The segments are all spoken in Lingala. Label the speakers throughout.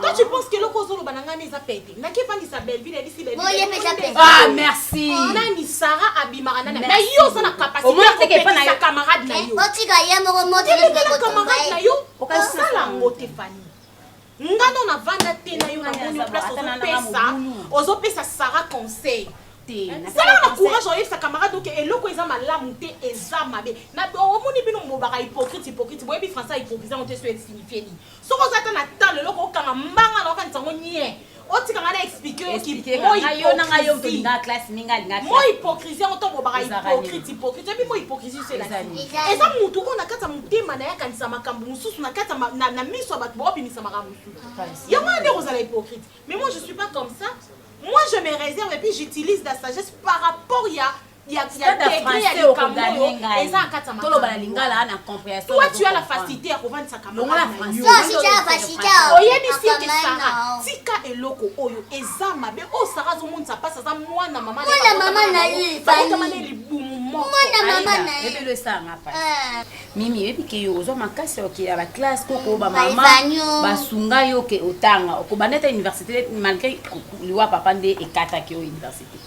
Speaker 1: Toi tu penses que loko
Speaker 2: zolo bananga ne za pete. Na ki pangisa Belleville elisi Belleville. Bon, ye pesa pesa. Ah
Speaker 3: merci. Nani Sarah
Speaker 2: abimaka nani? Na yo za na capacité. Omona te ke pa na
Speaker 3: yo camarade na yo. Otika
Speaker 2: ye moko
Speaker 1: moto na ko tomba. Na yo
Speaker 2: okasala ngo te Fanny. Nga no na vanda te na yo na moni place ozopesa. Ozopesa Sarah conseil. te zala na courage oyebisa camarade oke eloko eza malamu te eza mabe omoni bino mobaka hypocrite hypocrite boyebi français hypocrite yango te so esignifie nini Soki oza ata na temps lelo kokanga mbanga na okanisa ngo nie. Otika nga na explique yo
Speaker 3: ki mo hypocrisie yango to
Speaker 2: bobaka hypocrite hypocrite ebi mo hypocrisie se la eza mutu oyo na kati ya motema na ye akanisa makambo mosusu na kati na miso ya bato baobimisa makambo mosusu yango wana nde kozala hypocrite mais moi je suis pas comme ça moi je me réserve et puis j'utilise la sagesse par rapport ya ya ya degré ya likambo oyo eza na kati ya makambo toloba na lingala na
Speaker 3: comprehension toi tu as la facilité
Speaker 2: ya kovandisa kambo na français toi si
Speaker 3: tu as la
Speaker 2: facilité
Speaker 1: oyebi si que
Speaker 2: Sarah tika eloko oyo eza mabe oyo Sarah azomonisa pasi aza mwana mama mwana mama na ye
Speaker 1: bakotama ne libumu
Speaker 2: moko mwana mama na ye ebelo
Speaker 1: esala nga pasi
Speaker 3: ah. mimi oyebi ke yo ozwa makasi okela ba classe koko ba mama basunga
Speaker 1: yo ke
Speaker 3: otanga okobanda ata université malgré liwa papa nde ekataki yo université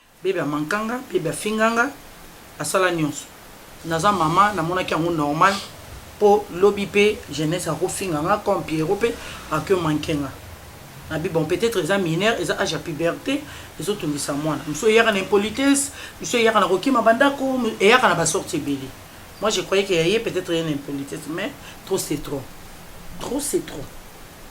Speaker 3: Bebe amanka
Speaker 4: nga, bebe afinga nga, asala nionso. Naza mama, namonaki yango normal po lobi pe jeunesse akofinga nga comme Pierrot pe ako manque nga. Nabi bon peut-etre eza mineure, eza age ya puberte ezotungisa mwana. Misusu eyaka na impolitesse, misusu eyaka na kokima ba ndako, eyaka na ba sortes ebele. Moi je croyais que ya ye peut-etre eye na impolitesse mais trop c'est trop. Trop c'est trop.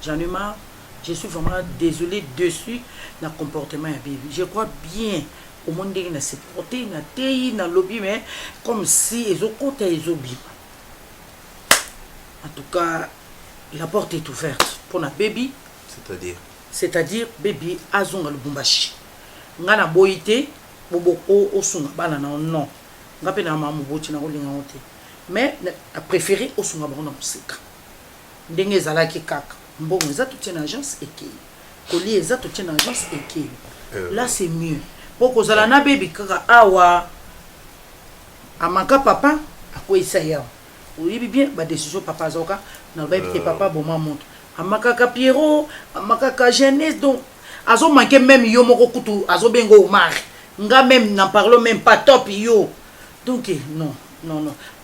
Speaker 4: J'en ai marre. Je suis vraiment desole deçu na comportement ya baby je crois bien omoni ndenge na supporte na teyi na lobi mais comme si ezokota ezobima en tout cas la porte est ouverte mpo na baby c'est-à-dire c'est-à-dire baby azonga lubumbashi ngai naboyi te osunga bana na yo non ngai mpe na mama moboti nakolinga yango te mais na préféré osunga bango na mosika Ndenge ezalaki kaka mbongo eza totie na agence ekeyi kolia eza totie na agence ekeyi la c'est mieux po kozala na bebi kaka awa amaka papa akweyisa ye awa oyebi bien ba decision papa azoka na lobayebi te euh. papa boma moto amakaka pierrot amakaka jeunesse donc azomanke meme yo moko kutu azobenga omar nga meme na parlo meme pas top yo donc eh, non non non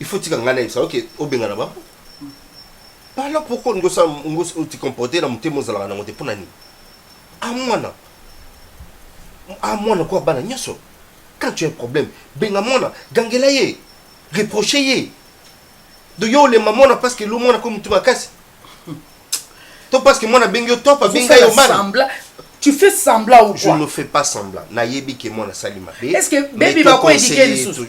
Speaker 5: il faut tika ngai nayebisa oke obengana bango alors pourquoi olingi osala otikomporte na motema ozalaka nango te mpo na nini a mwana a mwana koya bana nyonso quand tu as un problème benga mwana gangela ye reproche ye do yo olemba mwana parce que lo mwana ko motu makasi to parce que mwana abengi yo top abengi yo mala Tu fais
Speaker 4: semblant ou quoi Je ne fais pas semblant.
Speaker 5: Nayebi que moi na sali mabe. Est-ce que baby
Speaker 4: bako éduquer lisusu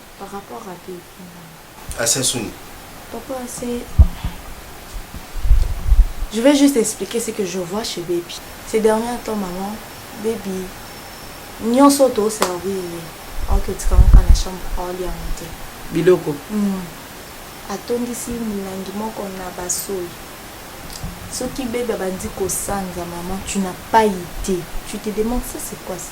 Speaker 4: Par rapport à
Speaker 6: qui À
Speaker 5: Sassouni. Pourquoi c'est.
Speaker 6: Je vais juste expliquer ce que je vois chez Baby. Ces derniers temps, maman, Baby, nyonso toservir ye aoki otikanga kaka na chambre aolia yango te biloko hmm. atondisi milangi moko na basoi soki bebe abandi kosanza maman tu n'as pas idée tu te demande ça c'est quoi ça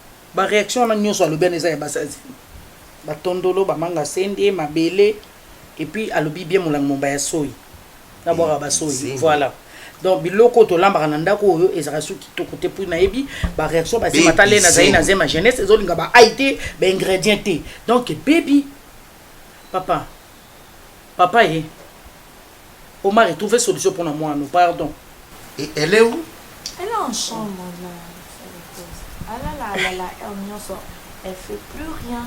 Speaker 4: ba reaction wana nyoso alobi wana eza ya bazazi ba tondolo ba manga sende mabele et puis alobi bien molango momba ya soyi na bwaka ba soyi voilà donc biloko tolambaka na ndako oyo ezalaka soki kitoko te mpo nayebi bareaction basemata le nazali na zema jeunesse ezolinga baai te baingrédient te donc bebi papa papa ye Omari trouver solution pona mwana no pardon. Et elle est
Speaker 5: où? Elle est en chambre
Speaker 7: là. Alala alala heure nyonso elle fait plus rien.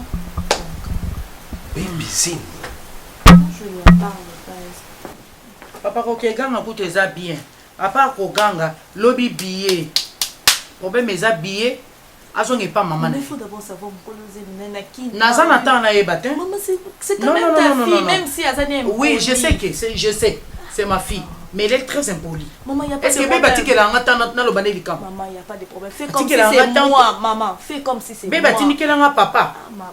Speaker 7: Baby
Speaker 5: zing. Je
Speaker 7: lui en parle pas. Papa kokeganga
Speaker 4: kutu eza bien. À part koganga lobi billet. Problème eza billet Azonga epa maman na ye.
Speaker 7: Naza na temps na
Speaker 4: yeba te. Non non
Speaker 7: non non non. Même si aza ne. Oui, je sais que c'est
Speaker 4: je sais. C'est ma fille. Mais elle est très impolie. Maman, y a pas Est-ce que bébé
Speaker 7: atike la ngata
Speaker 4: na na lobane likam. Maman, y a pas de problème. Fais
Speaker 7: comme si c'est moi, maman. Fais comme si c'est moi. Bébé atike la ngata papa. Ah,
Speaker 4: ma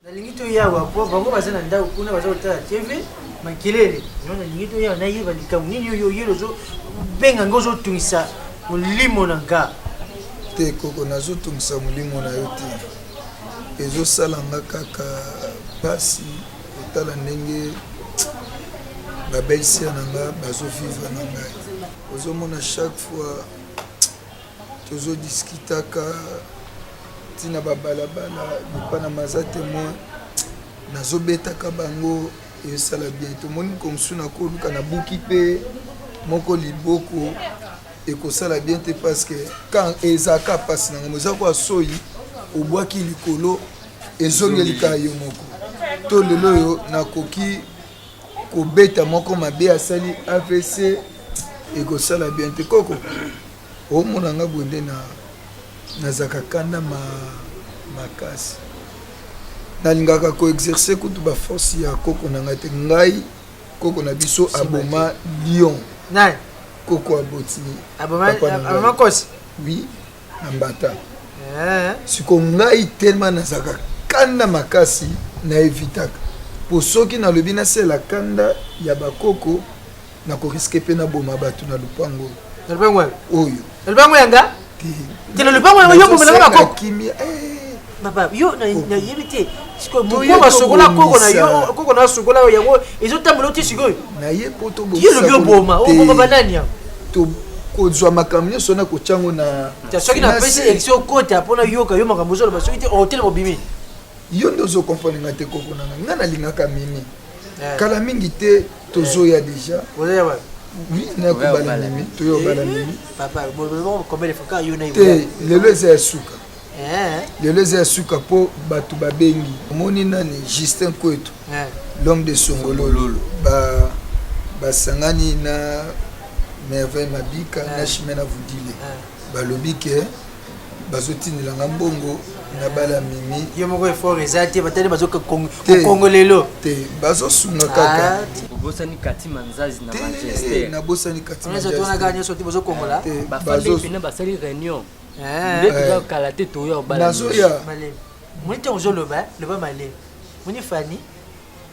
Speaker 7: nalingi toyawa
Speaker 8: po bango baza na ndako kuna baza kotala tv makelele no nalingi toyawa nayeba likambo nini oyo oyeli ozobenga ngai ozotungisa molimo na nga te koko
Speaker 9: nazotungisa molimo na yo te ezosala nga kaka mpasi otala ndenge babelser na nga bazovivre na ngai ozomona chaque fois tozo discutaka ntina babalabala epana maza temoin nazobetaka bango esala bien tomoni mokolo mosusu nakoluka nabuki mpe moko liboko ekosala bien te parce que quand ezaka mpasi na ngai eza kwa soyi obwaki likolo ezongelika yo moko to lelo oyo nakoki kobeta moko mabe asali avc ekosala bien te koko omona nga boye nde na nazalaka kanda ma makasi nalingaka koexerce kutu baforce ya koko na ngai te ngai koko na biso aboma lion
Speaker 8: koko aboti
Speaker 9: papakosi
Speaker 8: wi
Speaker 9: na mbata eh. siko ngai telema nazalaka kanda makasi na evitaka mpo soki nalobi nasela kanda ya bakoko Na ko risque pe na boma batu na lupango oyo. Na lupango oyo. Oyo. Na lupango yanga?
Speaker 8: Te na lupango yanga yo bomela ba koko. Kimia.
Speaker 9: Eh. Papa,
Speaker 8: yo na na yebite. Siko mo ba sokola koko na yo, koko na sokola yo yango ezo tambola ti siko. Na ye poto bo. Yo
Speaker 9: lobi oboma,
Speaker 8: oboma banani ya? To
Speaker 9: kozwa makambo nyonso wana kotya yango na soki napesi
Speaker 8: élection okota mpo nayoka yo makambo ozoloba soki te otelema obimi yo nde ozo
Speaker 9: comprendre nga te koko na nga nga nalingaka mimi eh. kala mingi te tozoya eh. deja oui nakobala mimi toyobala mimi te lelo eza ya suka lelo eza ya suka mpo bato babengi omoni nani justin kwetu l'homme de songololo basangani na merveille mabika na chimena vudile balobi ke bazotindela nga mbongo nabala mimi yo moko effort eza
Speaker 8: te batali bazokongo lelo te
Speaker 9: bazosunga kaka ah, obosani kati
Speaker 10: manzazi na manchester eh, nabosani kati
Speaker 9: manchestertonaka nyonso te
Speaker 8: bazokongola te bafandi pene
Speaker 10: basali réunion eh. nde toza kala te toya obala nazoya
Speaker 9: moni
Speaker 8: ntango ozoloba loba malemi moni fani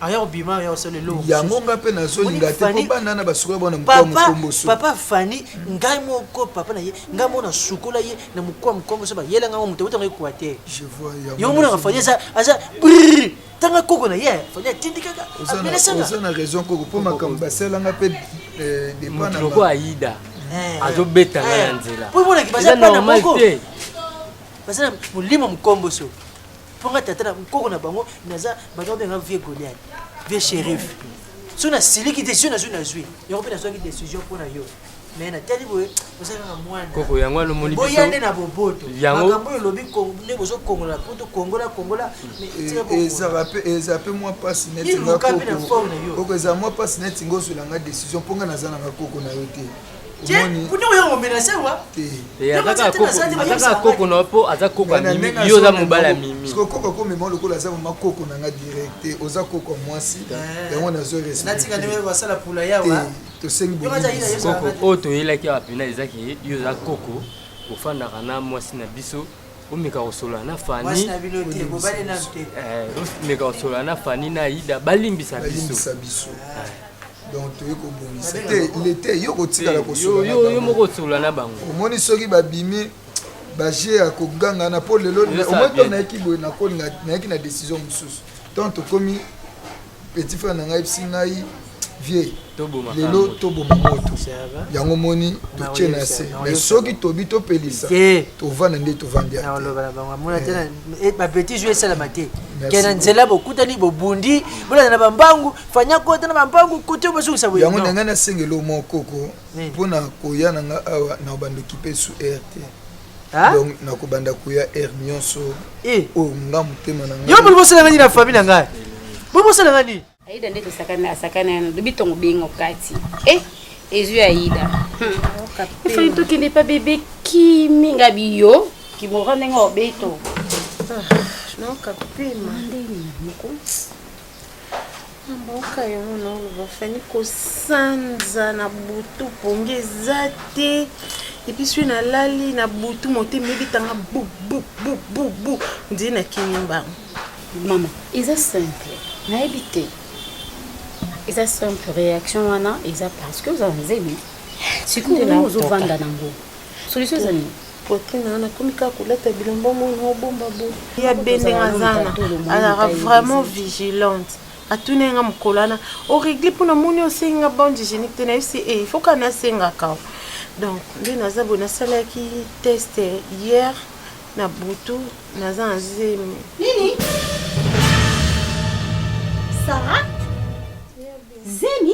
Speaker 8: aya kobima aya kosala eloko yango ngai mpe nazolinga
Speaker 9: te mpo bana na basukola bona mokwa mokomboso papa fani
Speaker 8: ngai moko papa na ye ngai moko nasukola ye na mokwa mokomboso bayela ngai moto otanga equateur yo
Speaker 9: monaka fani aza
Speaker 8: aza tanga koko na ye fani atindikaka oza na
Speaker 9: raison koko mpo makambo basalanga mpe eh, moto
Speaker 10: loko ayida eh. azobeta ngai na eh. nzela po emonaki baza bana
Speaker 8: moko baza na molimo mokomboso mpo nga tata na nkoko na bango naza bato babenga vieux goliat vieux shérif so nasiliki desizio nazwi nazwi yango mpe nazwaki desizio mpo na yo me natali boye oza kaka mwanakoko yango wana omoni
Speaker 10: boya nde na boboto
Speaker 8: makambo oyo olobi nde bozokongola poto kongola kongola
Speaker 9: eza mpe mwa mpasi netingaoko eza mwa mpasi netinga ozwela nga desizio mpo nga naza na bakoko na yo te
Speaker 10: aza koko na po aza koko ya mimi yo oza mobali ya mimi koko akomema lokola
Speaker 9: aza mama koko na nga direct te oza koko ya mwasi eh. yango nazo respectosengi koko oyo
Speaker 10: toyelaki awa mpena ezaki yo oza koko ofandaka na mwasi na biso omeka kosolola na fani omeka kosolola na fani na ida balimbisa biso donc
Speaker 9: toye kobongisa te lete yo kotikala kosoyo moko
Speaker 10: osolola na bango omoni soki babimi
Speaker 9: baje ya kogangana mpo lelo omoi to nayaki boye nayaki na décision mosusu donc tokomi petit frère na ngai bisi ngai vie lelo toboma moto yango moni totie na se me soki tobi topelisa tovanda nde tovandi
Speaker 8: bapetit jeu esalama te ke na nzela bokutani bobundi bolanda na bambangu fanya kota na bambangu kote bazongisa boye yango ndenge nasengeli omwa
Speaker 9: koko mpo na koya na nga awa na bando kipe su air te donc nakobanda koya air nyonso eh. oyo nga motema na ngai yo boli bosala ngai na famille na
Speaker 8: ngai boli bosala ngai nini aida nde tosakana
Speaker 3: asakana yano lobi ntongo bengo kati e eh, ezwi aida efali hmm. tokende pa bebe kimi nga biyo kimora ndenge obeto ah, nokapema
Speaker 2: ndenge moko Na mboka yango naoloba fani kosanza na butu pongi eza te epuis soki nalali na butu motema ebitanga bububububu ndie nakimi mbango mama
Speaker 3: eza simple nayebi te eza simple réaction wana eza parce que oza na nzemi sikoyo ozovanda nango solution eza nini poitrine wana akomi
Speaker 2: kaka kolata bilamba mwana obomba bo ya bendenga zana azalaka vraiment vigilante atuni yanga mokolo wana oregle mpo namoni osengi nga bande hygiénique te nayebisi e eh, foka nasengaka donc nde naza boye nasalaki test hier na butu naza na zemi nini
Speaker 6: sara zemi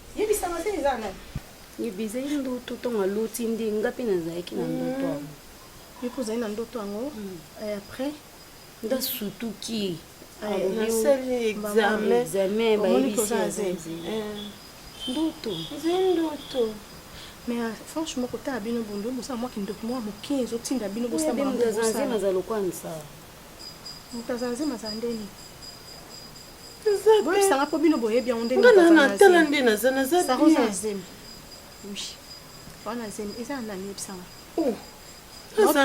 Speaker 6: yebisa nga se eza nani yebiza ye
Speaker 3: ndoto ntongo aloti nde nga mpe nazalaki na ndoto yango yo mpe ozali na
Speaker 2: ndoto yango après nga
Speaker 3: sutuki nasali
Speaker 2: examen bayebisi ndoto nze ndoto mais euh, franchement kotala bino bondo bosala mwa kindoki mwa moke ezotinda bino bosamoto aza
Speaker 3: lokola nsa
Speaker 2: mutazanze mazala nde nini boyebisanga mpo bino boyebi yango nde natala nde
Speaker 8: naza naza saroza zemi
Speaker 2: wana zemi eza na nani yebisanga oh,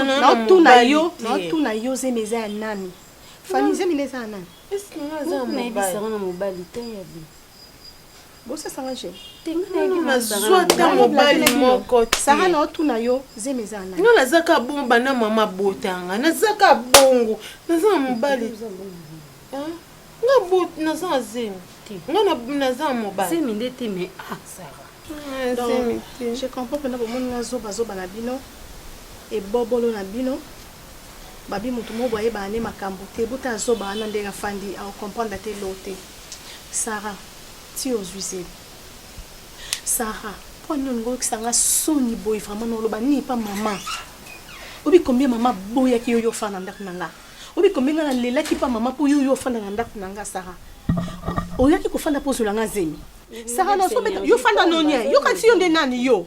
Speaker 2: naotuna yo naotuna yo zemi eza ya nani fani zemi nde eza ya nani nayebisanga
Speaker 3: na mobali te yabi
Speaker 2: bosasa nga je nazwa
Speaker 8: ata mobali moko sara na otuna yo
Speaker 2: zemi eza na nga naza ka bongo banda
Speaker 8: mama abota nga naza ka bongo naza na mobali nga bot naza na zemi nga naza na mobali zemi nde te me a ah,
Speaker 3: sara ah,
Speaker 2: donc je comprends mpena bomoni nga zobazoba na bino ebobolo na bino babi motu moko boyebana nde makambo te bota azoba wana ndenge afandi aocomprendre te lo te Sarah tii ozui zemi. Sarah pona nini olingi oyokisa nga soni boye vraiment na oloba nini pa mama obi combien mama boyaki yo yo ofana na ndako na nga obi combien nga nalelaki pa mama mpo yo yo ofanda na ndako na nga Sarah oyaki kofanda mpo ozwela nga zemi Sarah nazobeta yo fanda nonie yo kasi yo nde nani yo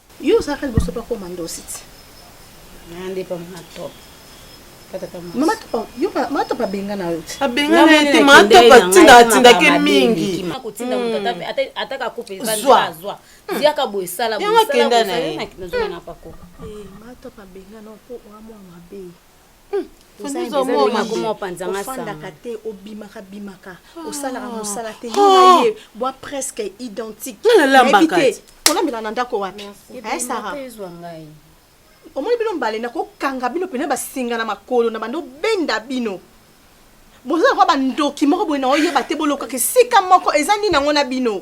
Speaker 2: Yo ozalaka liboso pa
Speaker 3: koma
Speaker 2: ndosi ti. Na
Speaker 3: nde pa
Speaker 2: mona
Speaker 3: top.
Speaker 2: Mama topa, yo pa mama topa benga na yo. Abenga na te mama
Speaker 4: topa tinda tinda ke mingi. Akotinda moto ata hmm.
Speaker 3: ata ata ka coupe va zwa zwa. Hmm. Zia ka boye sala boye. Yango kenda na ye. Na
Speaker 4: zwa na pako.
Speaker 3: Eh mama topa
Speaker 2: benga na po wa mwa mabe. Oza moma Oza kuma opanza nga ofandaka sanga. te obimaka bimaka osalaka mosala te yo na ye bwa presque identique Nga nalambaka Nayebi te. te. kolambela na ndako wapi Eh, Sarah. Ebonga ezwa ngai. omoni bino mbale nakokanga bino pene basinga na makolo na bando benda bino boza lokola bandoki moko boye na oyeba te bolokaka esika moko eza nini yango na bino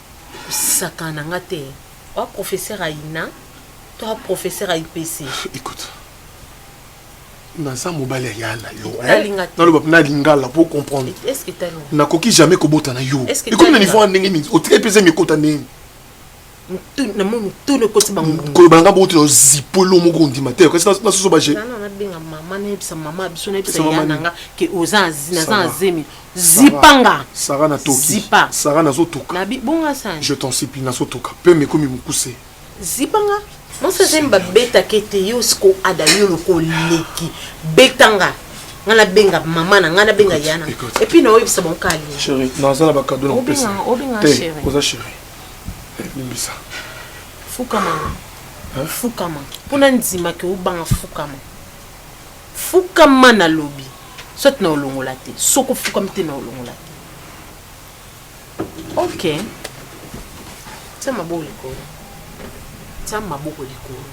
Speaker 11: Sakana
Speaker 2: na nga te oa professeur ayina to oa professeur ayi pese. Ecoute.
Speaker 11: Naza mobali ya yala yo. Naloba na lingala pour comprendre. Est-ce que talo?
Speaker 2: Nakoki jamais kobota
Speaker 11: na yo. Ekomi na niveau ya ndenge nini? Otika epese mikota ndenge nini?
Speaker 2: na moni to le kosi bango ko banga boto na
Speaker 11: zipolo moko ndima te kasi na soso ba je na na benga
Speaker 2: maman na yebisa maman biso na yebisa yana nga ke oza na za zemi zipa nga sara na toki
Speaker 11: zipa sara na zo
Speaker 2: toka na
Speaker 11: bi bonga sani je
Speaker 2: t'en supplie na zo toka
Speaker 11: pe me komi mukuse zipa nga
Speaker 2: mon sa zemi ba beta kete yo siko ada yo loko leki beta nga nga na benga mama na nga na benga yana et puis na oyo bisa bon kali chérie na za na ba
Speaker 11: cadeau na pesa obinga te oza
Speaker 2: chérie eh,
Speaker 11: limbisa fuka mama
Speaker 2: fukama mpo na ndima ke obanga fukama fukama nalobi soit na olongola te soki ofukami te na olongola te ok tia maboko likolo tia maboko likolo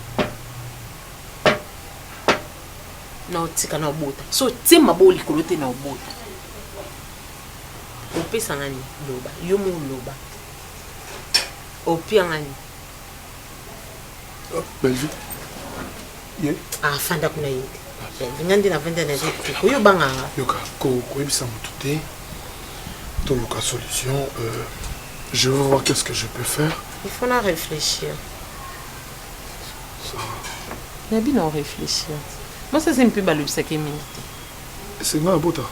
Speaker 2: na otika na obota so tie maboko likolo te na obota opesa ngani loba yo mo loba opia ngani
Speaker 11: Belgique. Ye. Ah, fanda
Speaker 2: kuna ye. Belgique ngandi na fanda na ziki. Ko yo banga nga. Yoka ko ko
Speaker 11: ebisa mutu te. To yoka solution euh je veux voir qu'est-ce que je peux faire. Il faut la réfléchir.
Speaker 2: Ça. Na bino réfléchir. Moi ça c'est un peu balobisa ke mingi. C'est nga
Speaker 11: bota.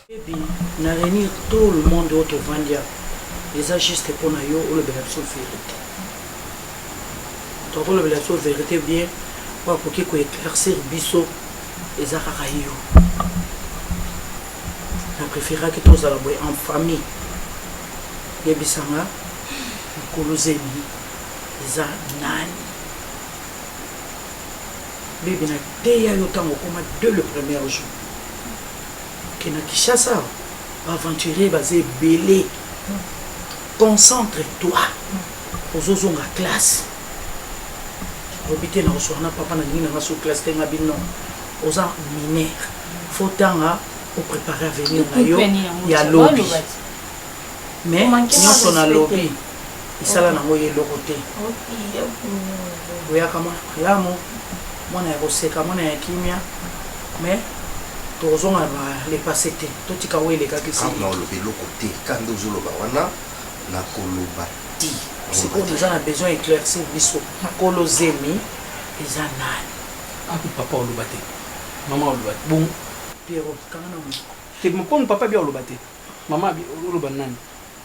Speaker 4: Baby na reunir tout le monde oyo tovandi awa eza juste mpo na yo olobela biso verite. Donc olobela biso verite bien oyo akoki ko eclaircir biso eza kaka yo. Na preferaki tozala boye en famille. Yebisa nga mukulu zemi eza nani? Baby na teya yo ntango okoma dès le premier jour. Ke na Kinshasa awa ba aventuriers baza ebele concentre toi ozozonga classe lobi te nakosuana na papa na lingi na nga so classe te ngabi non oza mineur faut tanga o préparer avenir na yo ya lobi mais nyonso na lobi esala okay. nango ye eloko te boyaka mwana malamu mwana ya koseka mwana ya kimia mais tokozonga na le passé te totika oyo elekaki sina oloba eloko te
Speaker 5: ka nde ozoloba wana nakoloba ti sikoyo toza na
Speaker 4: besoin éclaircir biso kolo zemi eza nani api ah, papa
Speaker 12: oloba te mama oloba te bon pierrot kanga
Speaker 4: na moko te mokoni papa
Speaker 12: bia oloba te mama oloba nani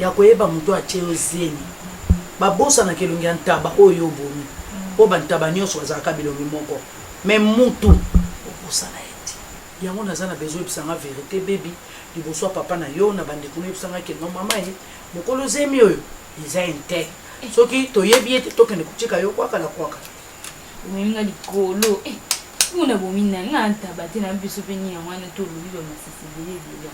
Speaker 4: ya koyeba moto atie yo zemi babosanaka elongi ya ntaba oyo yo obomi mpo bantaba nyonso bazalaka bilongi moko me mutu obosana ye te yango naza na bezo oyebisanga verite bebi liboso ya papa na yo na bandeko noyebisanga ke no mama ye mokolo zemi oyo eza inte soki toyebi ye te tokende kotika yo kwaka na kwaka omelinga
Speaker 6: likolo eh, mona bomi na nga ntaba te na biso mpe nini yango wana tolobi bamasisi bilebila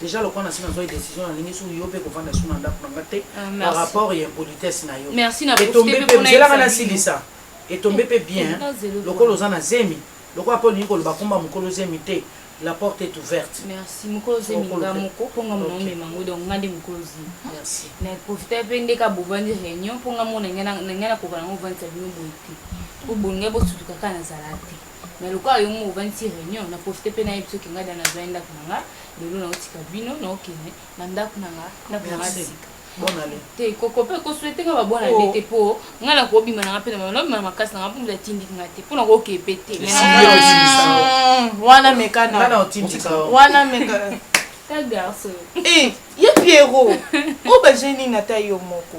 Speaker 4: Dejà lokola na si na zoi decision na lingi sous yo pe ko vanda sous na ndaku na nga te ah, par rapport ya impolitesse na yo. Merci na profite pe pona
Speaker 6: nzela nga na
Speaker 4: silisa. Et tombe pe bien lokola oza na zemi lokola po lingi ko loba komba mukolo zemi te. La porte est ouverte. Merci. Mukolo zemi
Speaker 6: nga moko po nga mona omema ngo donc nga nde mukolo zemi. Merci. Na profite
Speaker 4: pe
Speaker 6: ndeka bobandi réunion po nga mona nga na nga na kokana ngo vanda bino boye te. Po bonga bo sutuka kana zala te. mais lokola yo moko ovandisi réunion na profite mpe nayebi soki ngai da nazwai ndako na nga lelo naotika bino naokende na ndako na nga ndako na nga sika te
Speaker 4: koko mpe koswete
Speaker 6: nga babona nde oh. te mpo ngai nakobima na nga mpe nabima na makasi na nga mpo moto atindiki nga te mpo nakookee mpe te wana mekana wana
Speaker 2: mekana ta garçon
Speaker 6: eh, ye
Speaker 2: pierrot oyo baje nini ata yo moko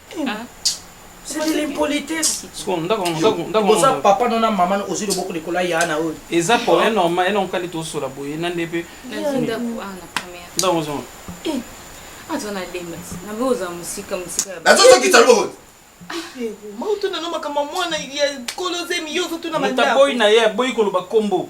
Speaker 12: oza papa no na mama
Speaker 4: ozwi loboko likolo ya yana oyo eza problème normal
Speaker 12: ye nankali tosola boye na nde mpe
Speaker 6: nazozokisa loboko
Speaker 5: mautuna
Speaker 2: no makambo mwana ya kolo zemi yo ozotuna mandakoboyi na ye aboyi koloba
Speaker 12: nkombo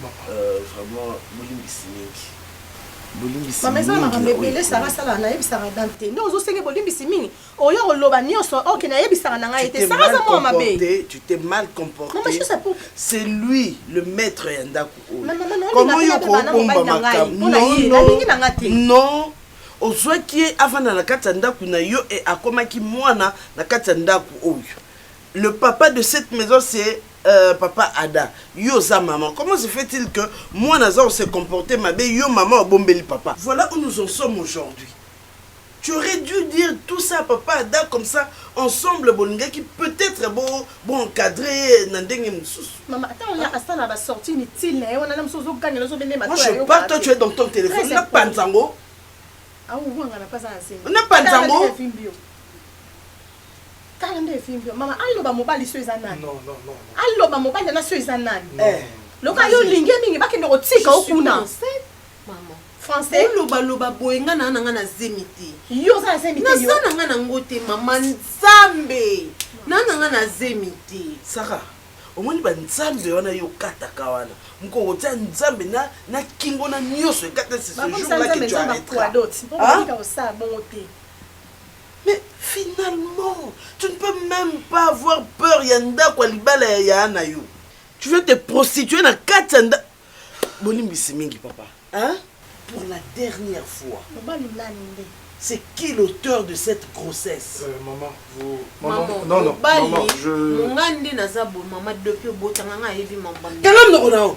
Speaker 13: maman. Euh, vraiment, bolimbisi mingi. Bolimbisi maman, eza
Speaker 2: makambo ebele Sarah sala na yebisaka dame te. Ndio ozo senge bolimbisi mingi. Oyo koloba nioso, OK, na yebisaka na ngai te. Sarah za mwa mabe. Tu t'es mal comporté.
Speaker 13: Maman, je sais pour
Speaker 2: C'est lui
Speaker 13: le maître ya ndaku oyo. Maman, maman, comment
Speaker 2: yo ko bomba makambo? Non, non.
Speaker 13: Non. ozwaki ye avanda na kati ya ndako na yo e akomaki mwana na kati ya ndako oyo Le papa de cette maison c'est euh, papa Ada. Yo oza maman. Comment se fait-il que moi naza se comporter mabe yo maman obombeli papa. Voilà où nous en sommes aujourd'hui. Tu aurais dû dire tout ça à papa Ada comme ça ensemble bolingaki peut-être bo bo encadrer na ndenge mosusu. Maman attends on a ah. asala
Speaker 2: ba sortie inutile na ye wana na mosusu ozoganga nazo bende matoi. Moi je pars toi tu es
Speaker 13: dans ton téléphone na panzango. Ah
Speaker 2: ou wanga na pas à enseigner. Na panzango. Tala nde evimbi yo mama aloba mobali so eza nani Non, non, non, non.
Speaker 11: aloba mobali
Speaker 2: yana so eza nani Non. Eh. loka yo olingi ye mingi bakende kotika yo kuna Maman.
Speaker 14: français oloba
Speaker 2: loba boye nga
Speaker 14: naa na nga na zemi te yo oza na
Speaker 2: zemi te yo naza na nga na ngo te
Speaker 14: mama nzambe naa
Speaker 13: na nga
Speaker 14: na zemi te saka
Speaker 13: omoni banzambe wana yo okataka wana moko okotia nzambe na na kingo na nyonso ekata c'est ce jour bakomisa là que nzambe tu nzambe arrêteras akuadoti mpo Ah? okotika kosala bongo te Mais finalement tu ne peux meme pas avoir peur ya ndako ya libala ya yaya na yo. Tu veux te prostituer na kati ya ndako bolimbisi mingi papa hein pour la dernière fois. Mobali nani nde? C'est qui l'auteur de cette grossesse? Euh, maman, vous...
Speaker 11: Maman, maman non, non, maman, je... Mungandi naza bo,
Speaker 14: maman, depuis obotanga nga ayebi maman. Tala mnoko nao.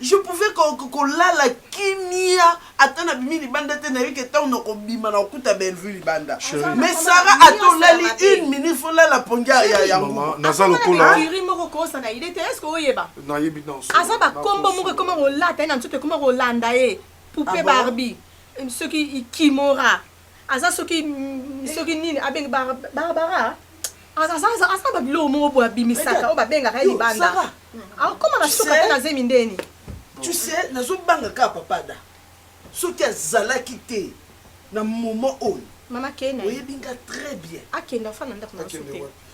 Speaker 11: Je pouvais ko
Speaker 13: ko lala kimia ata na bimi libanda te nayebi ke tango na ko bima na kuta Bellevue libanda mais Sarah ata olali une minute faut lala pongia ya ya maman naza lokola
Speaker 11: kiri moko ko sa na idée
Speaker 2: te est-ce que oyeba nayebi dans aza
Speaker 11: ba kombo moko
Speaker 2: ekoma ko lata na nzoto ekoma ko landa ye poupée ah Barbie ce qui kimora aza soki soki nini abengi barbara aza babiloko moko boye abimisaka oyo babengaka ye libanda akoma na soka te na zemi ndeni tu sais
Speaker 13: nazobanga kaka papada soki azalaki te na moment oyo mama kena oyebi
Speaker 2: nga très bien
Speaker 13: akenda fana ndako na
Speaker 2: sote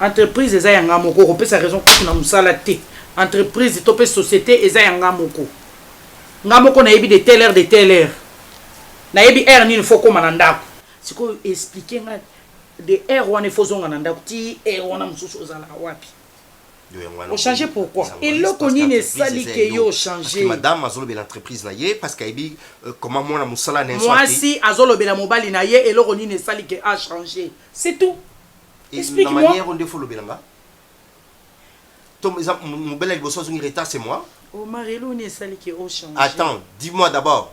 Speaker 4: Entreprise eza ya nga moko okopesa raison kutu na musala te entreprise to pe societe eza ya nga moko nga moko nayebi de telle heure de telle heure nayebi heure nini faut koma na ndaku sikoyo explique nga de heure wana il faut ozonga na ndaku ti heure wana mususu ozalaka wapi. o changer pourquoi eloko nini esali ke yo o changer madame azolobela entreprise
Speaker 5: na ye parce que ayebi euh, comment mwana mosala na mwasi azolobela
Speaker 4: mobali na ye eloko nini esali ke a changer c'est tout explique moi
Speaker 5: manière onde
Speaker 4: faut lobela
Speaker 5: nga to mobela liboso azongi retard c'est moi omar eloko nini
Speaker 4: esali ke o changer attends
Speaker 5: dis-moi d'abord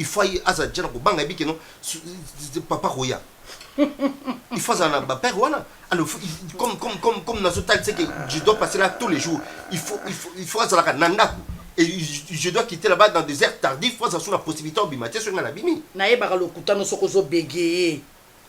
Speaker 5: Il faut aye azala dejà na kobanga ayebi que non papa akoya il faut azala na ba père wana alors il faut- il- comme comme comme comme nazo talisa que je dois passer là tous les jours il faut il faut il faut azalaka na ndaku et je je dois quitter là-bas dans des heures tardives faut azala sur la possibilité obima te soki nga nabimi nayebaka
Speaker 4: lokuta
Speaker 5: no soki ozobegeye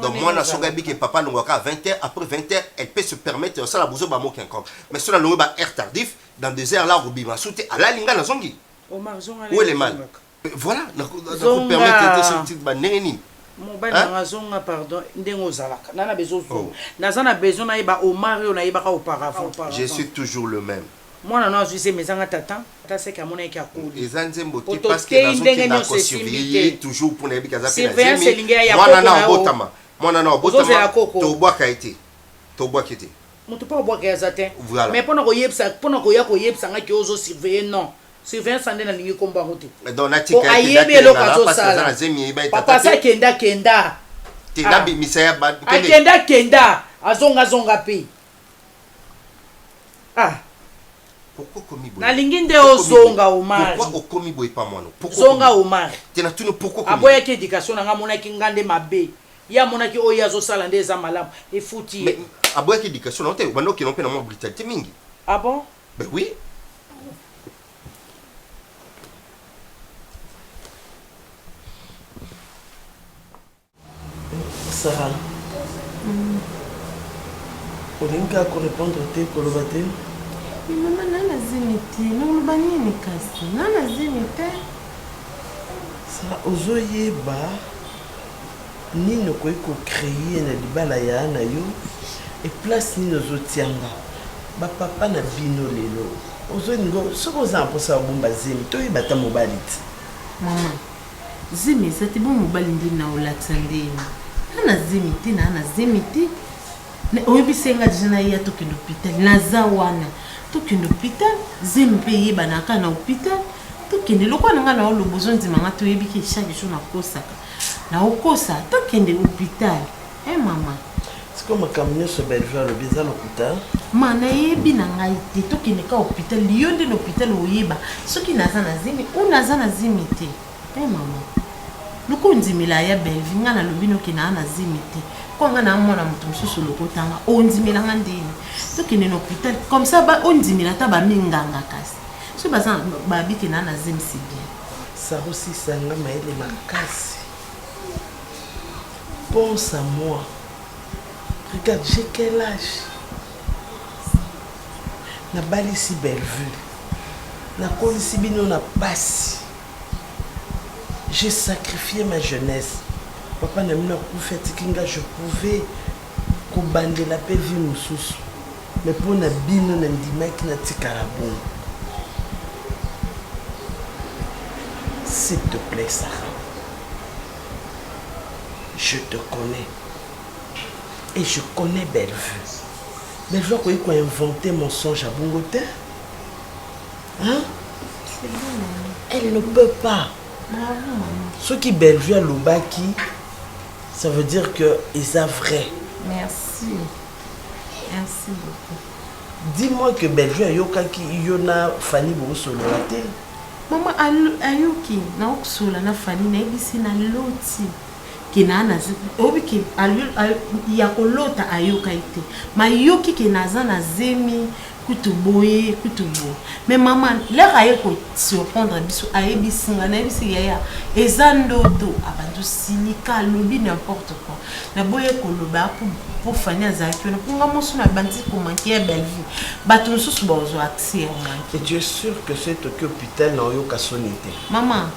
Speaker 5: Donc mwana soki ayebi que papa alongwa kaka 20 heures, après 20 heures, elle peut se permettre ya kosala buzoba moko ya nkombo. Mais soki nalongwe ba heures tardif, dans 2 heures là akobima su te, alali nga nazongi. Où est
Speaker 4: le mal?
Speaker 5: Voilà, nako permettre te soki ba ndenge nini? mobali nanga
Speaker 4: azonga pardon ndenge ozalaka nana bezozonga naza na besoin nayeba omar oyo nayebaka auparavant je suis toujours
Speaker 5: le même Mwana no azwi zemi
Speaker 4: ezanga tata ata seke amonaki ke akoli. Eza nzembo te parce
Speaker 5: que nazo kenda ko surveiller ye toujours pona yebi ke aza pe na zemi. Mwana nao abotama, mwana nao abotama to bwaka ye te, to bwaki ye te. Mutu pe abwaka ye aza
Speaker 4: te. Voilà. Mais pona ko yebisa, pona koya ko yebisa nga ke ozo surveiller non. Surveillance nde na lingi kombo yango te. Donc na tika ye. Po
Speaker 5: ayebi eloko azo sala.
Speaker 4: Papa sa kenda kenda. Te na bimisa
Speaker 5: ya ba. Akenda kenda.
Speaker 4: Azonga zonga pe. Ah. Pourquoi
Speaker 5: okomi boye? Nalingi nde ozonga
Speaker 4: Omari. Pourquoi okomi boye pa
Speaker 5: mwanu? Pourquoi okomi. Zonga Omari.
Speaker 4: Te na tuni pourquoi
Speaker 5: okomi. Aboyaki education na nga
Speaker 4: amonaki nga nde mabe. Ye amonaki oyo ye azo sala nde eza malamu. Efuti ye. Mais aboyaki
Speaker 5: education na yo te? Obanda okende mpe na mwa brutalite mingi. Ah bon? Ben
Speaker 4: oui.
Speaker 13: Sarah olingi kaka ko repondre te koloba te Mais maman
Speaker 14: nana azemi te noloba nini kasi nana azemi te
Speaker 13: Sarah ozoyeba nini okoki ko créer na libala ya na yo et place nini ozotianga ba papa na bino lelo ozolinga soki oza na mposa ya obomba zemi toyeba ata mobali ti maman
Speaker 14: Zemi zati bo mobali ndi na olakisa ndeni na na zemi te na na zemi te oyebi senga deja na ya tokende hôpital naza wana tokende hôpital zemi pe yeba na ka na hôpital tokende lokola na nga na olobo zondima nga toyebi ki chaque jour na kosaka na okosa tokende hôpital Eh mama. Siko makambo
Speaker 13: nyonso Bellevue alobi eza lokuta? Ma nayebi
Speaker 14: na ngai te tokende ka hôpital yo nde na hôpital oyeba soki naza na zemi ou naza na zemi te. Eh mama. Loko ondimela ya Bellevue ngai nalobi noke naa na zemi te. Kwa ngai naa mwana moto mosusu lokota nga ondimela nga ndeni tokende na hôpital comme ça ba ondimela ata ba minganga kasi soki baza babi ke naa na zemi c'est bien. Sarosisa
Speaker 13: nga mayele makasi. Pense à moi regarde j'ai quel age na balisi Bellevue na kolisi bino na pasi j'ai sacrifié ma jeunesse papa na bino akufi atiki nga je pouvais kobandela pe vie mosusu Mais pona bino na ndimaki na tikala bongo s'il te plait Sarah je te connais et je connais Bellevue. Bellevue akoki ko inventer mensonge à bongo te. Hein? Elle ne peut pas. Ce qui Bellevue à Lubaki, ça veut dire que ils a vrai. Merci.
Speaker 14: Merci beaucoup. Dis moi
Speaker 13: que Bellevue ayokaki yo na Fanny bosolola te? Mama
Speaker 14: ayoki na okosola na Fanny nayebisi na loti ke na na oyebi ke ya kolota ayokaki te mayoki ke naza na zemi kutu boye kutu boye mais mama lere aye ko surprendre biso ayebisi nga nayebisi yaya eza ndoto abandi osilika alobi n'importe quoi naboye koloba mpo fani azalaki wana mpo nga mosu nabandi komanke ya bellevue bato mosusu bazwa accès ya manke je sûr
Speaker 13: que soki toki hôpital na oyoka soni te mama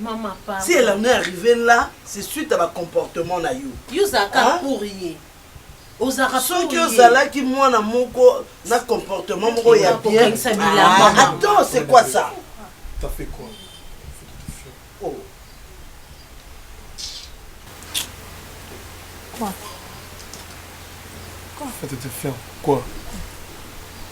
Speaker 13: Maman,
Speaker 14: pardon. Si elle en est arrivée
Speaker 13: là, c'est suite
Speaker 14: à
Speaker 13: ba comportement na yo. Yo zaka hein? pour ye. ozalaka soki ozalaki mwana moko na comportement moko ya bien ah, attends c'est quoi ça t'as fait quoi oh
Speaker 7: quoi
Speaker 11: quoi tu te fermes quoi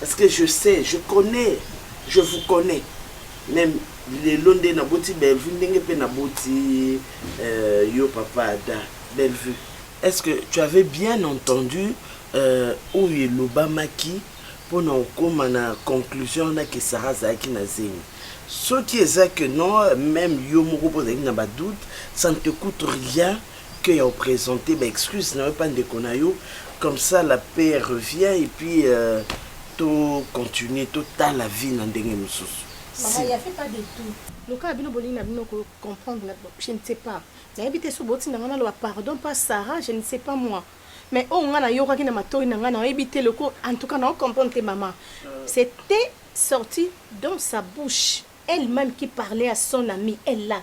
Speaker 13: parce que je sais je connais je vous connais meme lelo nde naboti Bellevue ndenge pe naboti euh, yo papa Ada Bellevue est-ce que tu avais bien entendu euh, oyo elobamaki mpo na okoma na conclusion wana ke sara azalaki na zemi soki eza que non meme yo moko mpo ozalaki na badoute ça ne te coûte rien que ya o presenter ba excuses na yo epa ndeko na yo comme ça la paix revient et puis euh, to continuer to tala vie na ndenge mosusu Maman, il y avait
Speaker 2: pas de tout. lokola bino bolingi na bino ko comprendre na- je ne sais pas nayebi te so botinda ngai naloba pardon pa sarah je ne sais pas moi mais oyo ngai nayokaki na matoi na ngai nayebi te loko en tout cas nao comprendre te mama c'était sorti dans sa bouche elle-même qui parlait à son ami elle là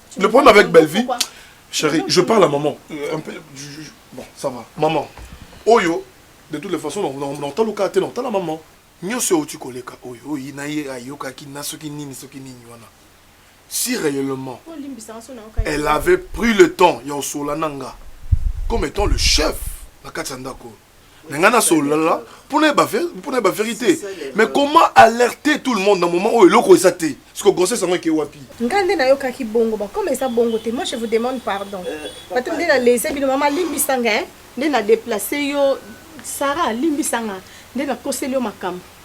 Speaker 5: Le problème avec Bellevue, chérie, je parle à maman. Euh, un peu, je, je, bon, ça va. Maman, oyo, de toutes les façons, nantala oka te, nantala maman. nyonso euti koleka oyo oyi na ye ayokaki na soki nini soki nini wana si réellement elle avait pris le temps ya osola na nga comme étant le chef na kati ya ndako oyo na ngai nasololala mpo nayeba mpo nayeba verité mais comment alerter tout le monde na moment oyo eloko eza te siko grossesse yango eke wapi ngai nde nayokaki bongo bakoma eza bongo
Speaker 2: te moi je vous demande pardon euh, bato nde nalese bino mama limbisa ngai nde na deplace yo sara limbisa ngai nde nakoseli yo makambo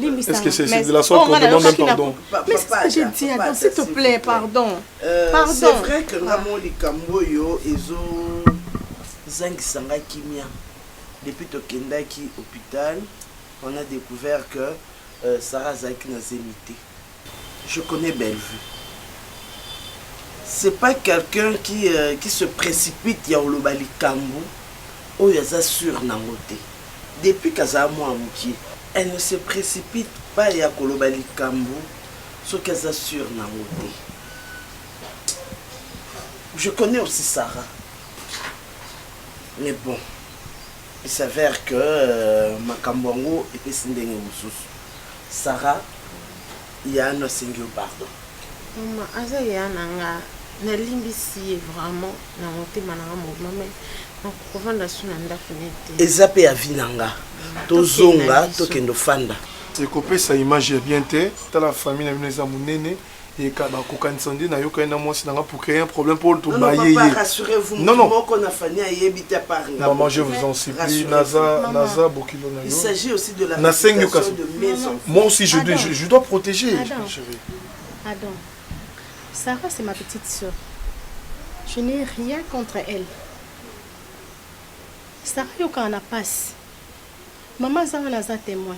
Speaker 2: Est-ce
Speaker 11: que c'est de la sorte oh, qu'on demande même pardon Mais c'est ce que j'ai dit,
Speaker 2: attends, s'il te plaît, pardon. Euh, pardon. C'est vrai que nga
Speaker 13: mo likambo yo ezo zangisa nga kimia. Depuis tokendaki hôpital, on a découvert que euh, Sarah azalaki na zemi te. Je connais Bellevue c'est pas quelqu'un qui qui se precipite ya koloba likambu oyo aza sur nango te depuis qu'azala mua mukie elle ne se precipite pas ya koloba likambu soki aza sur nango te je connais aussi Sarah mais bon il s'avère que makambu yango epesi ndenge mususu. Sarah ya ano asengi yo pardon. Maman
Speaker 14: aza yaya na nga na limbisi ye vraiment na motema na nga mobima mais nako kovanda su na ndaku ne te. Eza pe avis na nga
Speaker 13: tozonga tokende ofanda. Ekopesa
Speaker 11: image ya bien te tala famille na bino eza munene. Eka ba kokanisa nde na yokani na mwasi na nga pour créer un problème pour to baye ye. Rassurez-vous, non non.
Speaker 13: Moko na Fanny ayebi ta part nga. Maman, je vous en
Speaker 11: supplie, naza naza bokilo na yo. Il s'agit aussi de
Speaker 13: la réputation de mes enfants.
Speaker 11: Moi
Speaker 13: aussi je dois je,
Speaker 11: je dois protéger.
Speaker 2: Adam. Chérie. Adam. Sarah c'est ma petite sœur. Je n'ai rien contre elle. Sarah yokana na passe. Maman zanga naza témoin.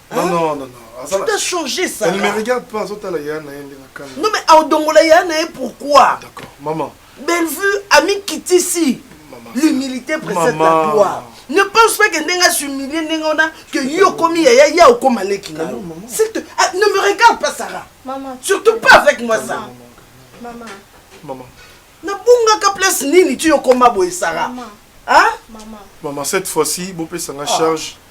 Speaker 13: Non,
Speaker 11: non,
Speaker 13: non, non. Tu
Speaker 11: dois changer
Speaker 13: ça. Elle ne me regarde pas, azotala
Speaker 11: ya na ye ndenge akanga.
Speaker 13: Non mais aodongola ya na ye pourquoi? D'accord, maman.
Speaker 11: Bellevue
Speaker 13: ami kitisi. L'humilité précède la gloire. Ne pense pas que ndenge s'humilier ndenge wana que yo okomi yaya ya okoma leki na yo. S'il te ah, ne me regarde pas Sarah. Maman. Surtout pas
Speaker 2: avec moi
Speaker 13: ça.
Speaker 11: Maman. Maman.
Speaker 13: Nabungaka place nini tu okoma boye Sarah? Maman. Hein? Maman. Maman
Speaker 11: cette fois-ci bopesa nga ah. charge. Ah.